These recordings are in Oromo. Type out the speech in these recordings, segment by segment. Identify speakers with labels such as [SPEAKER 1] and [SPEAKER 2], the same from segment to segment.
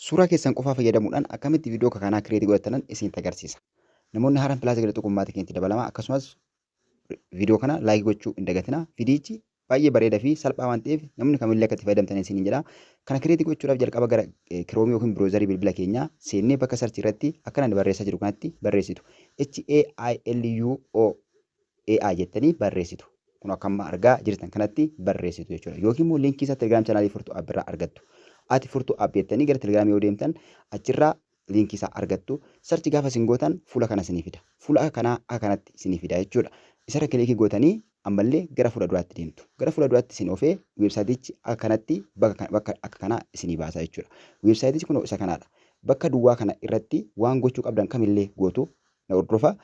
[SPEAKER 1] Suuraa keessan qofaa fayyadamuudhaan akkamitti viidiyoo akka kanaa kireetii godhattanan isinitti agarsiisa. Namoonni haaraan pilaasa gadi tuquun maatii keenyatti dabalamaa akkasumas viidiyoo kana laayikii gochuu hin dagatinaa. Viidiyichi baay'ee bareedaa fi salphaa waan ta'eef namni kamillee akka itti fayyadamtan isiniin jedha. Kana kireetii gochuudhaaf jalqaba gara kiroomii yookiin biroozarii bilbila keenyaa seennee bakka sarchii irratti akkana barreessaa jiru kanatti barreessitu. H A I L U O AI jettanii barreessitu. Kun akka amma argaa jirtan kanatti barreessitu jechuudha. Yookiin immoo linkii isaa Telegram channel Furtuu App irraa argattu. Ati Furtuu App jettanii gara Telegram yoo deemtan achirraa linkii isaa argattu. Search gaafa isin gootan fuula kana isinii fida. Fuula akka kanaa akka kanatti isinii fida jechuudha. Isarra kilikii gootanii ammallee gara fuula duraatti deemtu. Gara fuula duraatti isin ofee weebsaayitichi akka kanatti bakka bakka akka kanaa isinii baasa jechuudha. Weebsaayitichi kunoo isa kanaadha. Bakka duwwaa kana irratti waan gochuu qabdan kamillee gootu na hordofa.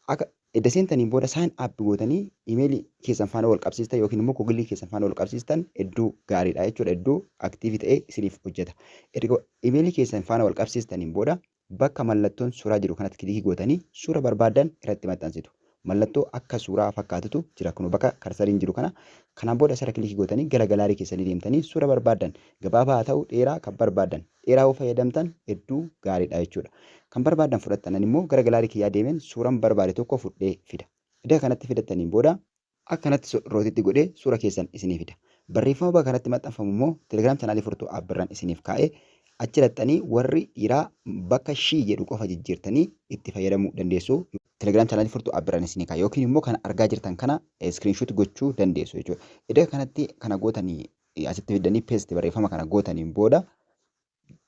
[SPEAKER 1] Akka edda seentaniin booda sign up gootanii imeelii keessan faana wal qabsiistan yookiin immoo kogilii keessan faana wal qabsiistan hedduu gaariidha jechuudha. Hedduu aktiivii ta'ee isiniif hojjeta. Erga imeelii keessan faana wal qabsiistaniin booda bakka mallattoon suuraa jiru kanatti kilikii gootanii suura barbaadan irratti maxxansitu. Mallattoo akka suuraa fakkaatutu jira kunoo bakka karsariin jiru kana. Kanaan booda asirra kilikii gootanii gara galaarii keessanii deemtanii suura barbaadan Gabaabaa haa ta'u dheeraa kan barbaaddan dheeraa yoo fayyadamtan hedduu gaariidha jechuudha. Kan barbaaddan fudhattan ani immoo gara galaarii kiyyaa deemeen suuran barbaade tokko fudhee fida. Eda kanatti fidattaniin booda. Akkanatti sodrootitti godhee suura keessan isinii fida. Barreeffama baga kanatti maxxanfamu immoo telegram chanaalii furtuu app irran isiniif kaa'ee achi dhaqxanii warri dhiiraa bakka she jedhu qofa jijjiirtanii itti fayyadamuu dandeessu. Telegram chanaalii furtuu app irran isinii kaa'e yookiin immoo kana argaa jirtan kana screenshot gochuu dandeessu jechuudha. Eda kanatti kana gootanii asitti fiddanii paste barreeffama kana gootaniin booda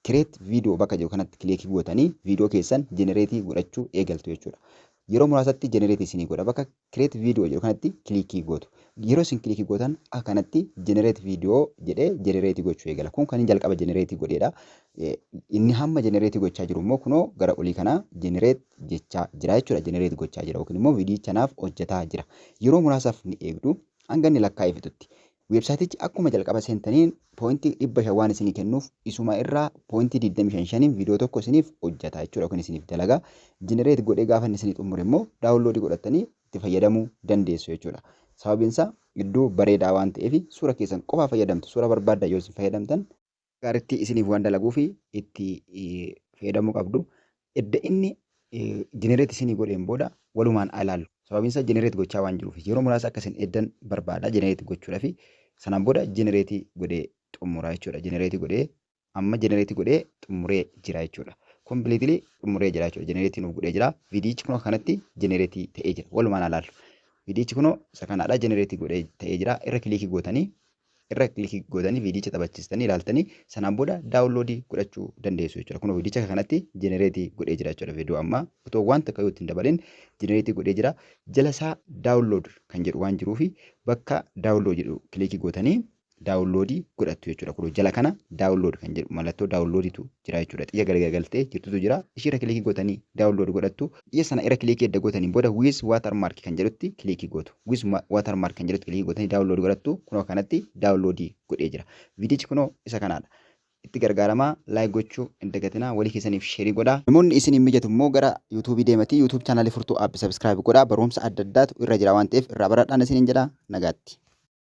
[SPEAKER 1] create video bakka jiru kanatti kileekii gootanii video keessan generate godhachuu eegaltu jechuudha. Yeroo muraasatti generate isinii godha bakka create video jedhu kanatti kilikii gootu. Yeroo isin kilikii gootan akkanatti generate video jedhee generate gochuu eegala. Kun kan jalqaba generate godheedha. Inni hamma generate gochaa jiru immoo kunoo gara olii kana generate jechaa jira jechuudha. Generate gochaa jira yookiin immoo viidiyicha naaf hojjetaa jira. Yeroo muraasaaf ni eegdu hanga inni lakkaa'ee fixutti. Websiteichi akkuma jalqaba seentaniin point 500 waan isinii kennuuf isuma irraa point 25 shaniin video tokko isiniif hojjata jechuudha yookiin isiniif dalaga. Generate godhee gaafa inni isinii xumure immoo download godhattanii itti fayyadamuu dandeessu jechuudha. Sababiin isaa iddoo bareedaa waan ta'eef suura keessan qofaa fayyadamtu suura barbaaddan yoo isin fayyadamtan gaaritti isiniif waan dalaguuf itti fayyadamuu qabdu. Edda inni generate isinii godheen booda walumaan ilaallu. Sababiin isaa generate gochaa waan jiruuf yeroo muraasa akka isin eddan barbaada generate gochuudhafi. Sanaan booda generate godhee xumura jechuudha. Generate godhee amma generate godhee xumuree jira jechuudha. Completely xumuree jira jechuudha. Generate nuuf godhee jira. Viidiyichi kunoo kanatti generate ta'ee jira. Walumaan ilaallu. Viidiyichi kunoo isa kanaadha generate godhee ta'ee jira. Irra kiliikii gootanii irra click gootanii viidiyicha taphachistanii ilaaltanii sanaan booda download godhachuu dandeessu jechuudha. Kunoo viidiyicha akka kanatti generate godhee jira jechuudha. Viidiyoo ammaa otoo waan takka yoo ittiin dabalin generate godhee jira. Jala isaa download kan jedhu waan jiruufi bakka download jedhu click gootanii download godhattu jechuudha. Kunoo jala kana download kan jedhu mallattoo download tu jira jechuudha. Xiyya garagagaltee jirtutu jira. Ishiirra click gootanii download godhattu. Ija sana irra kiliikii edda gootaniin booda with watermark kan jedhutti kiliikii gootu. With watermark kan jedhutti kiliikii gootanii download godhattu. Kunoo kanatti download godhee jira. Viidichi kunoo isa kanaadha. Itti gargaaramaa, like gochuu hin dagatinaa, walii keessaniif share godhaa. Namoonni isin hin mijatu immoo gara YouTube deematii YouTube channel Furtuu App subscribe godhaa. Barumsa adda addaatu irra jira waan ta'eef irraa baradhaan isiniin jedha. Nagaatti.